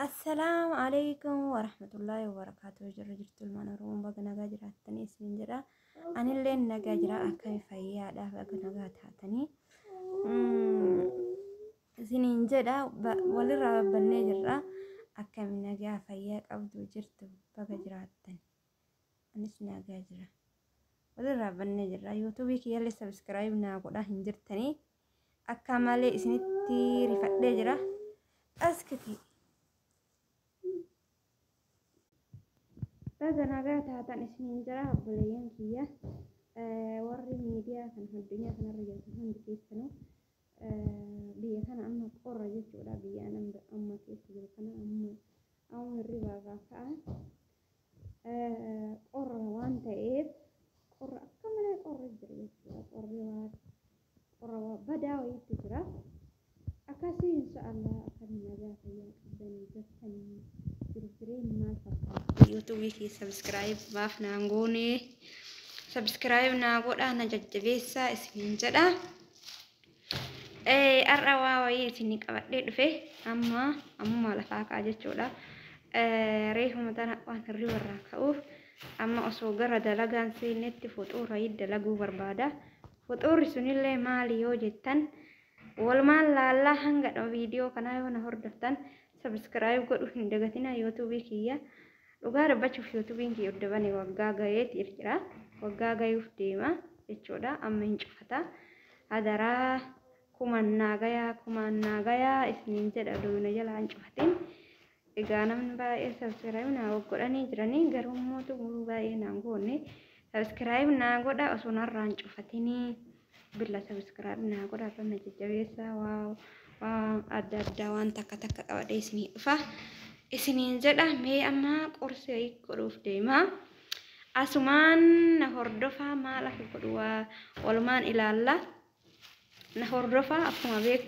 Assalaamu alaikum warahmatullaahi wabarakaatuh jirra jirtu ilmaan oromoo baga nagaa jiraattanii isin jedha anillee nagaa jira akkami fayyaadha baga nagaa taatanii isiniin jedha walirraa babbannee jirra akkami nagaa fayyaa qabdu jirtu baga jiraattan anis nagaa jira walirraa babbannee jirra yuutuubii kiyyallee sabiskiraayib naa godhaa hin jirtanii Akka malee isinitti rifadhee jira. Askiti. Baga nagaa taatan isiniin jira obboleeyyan kiyya. Warri miidiyaa kan addunyaa kanarra jirtan hundi keessanuu biyya kana amma qorra jechuudha. Biyya amma keessa jiru kana amma amma hirribaa irraa ka'a. Qorra waan ta'eef qorra akka malee qorra jira jechuudha. Qorri waan Oromoo badaa wayiitti jira. Akkasii insha'Allah akkami nagaa fayyaa qabdanii jirtanii jiru jireenyi maal fakkaata? YouTube kee subscribe maaf naan goone subscribe naa godhaa na jajjabeessaa isiniin jedha. Eh, har'a waa wayii isinii qabadhee dhufe amma ammumaa lafaa ka'a jechuudha. Eh, reefuma tana waan hirriba irraa ka'uuf amma osoo gara dalagaan seennetti fuxuura dalaguu barbaada. Fuxuurri sunillee maali yoo jettan walumaan laallaa hanga dhuma viidiyoo kanaa yoo na hordoftan subscribe godhuu hin dagatinaa youtube kiyya dhugaa dubbachuuf youtubiin kiyya udda bane waggaa gayeeti jira waggaa gayuuf deema jechuudha amma hin cufata hadaraa kuman naagayaa kumaan naagayaa isiniin jedha duuna jala hin cufatin Egaa namni baay'ee subscribe naa goggodhanii jiranii garuu immoo xumuruu baay'ee naan goonne subscribe naa godha osoo narraan cufatinii billa subscribe naa godha irra na jajjabeessa waaw waan adda addaa waan takka takka qabadee isinii dhufa isiniin jedha mee amma qorsi wayii godhuuf deemaa asumaan na hordofaa maal akka godhu waa walumaan ilaalla na hordofaa akkuma beeku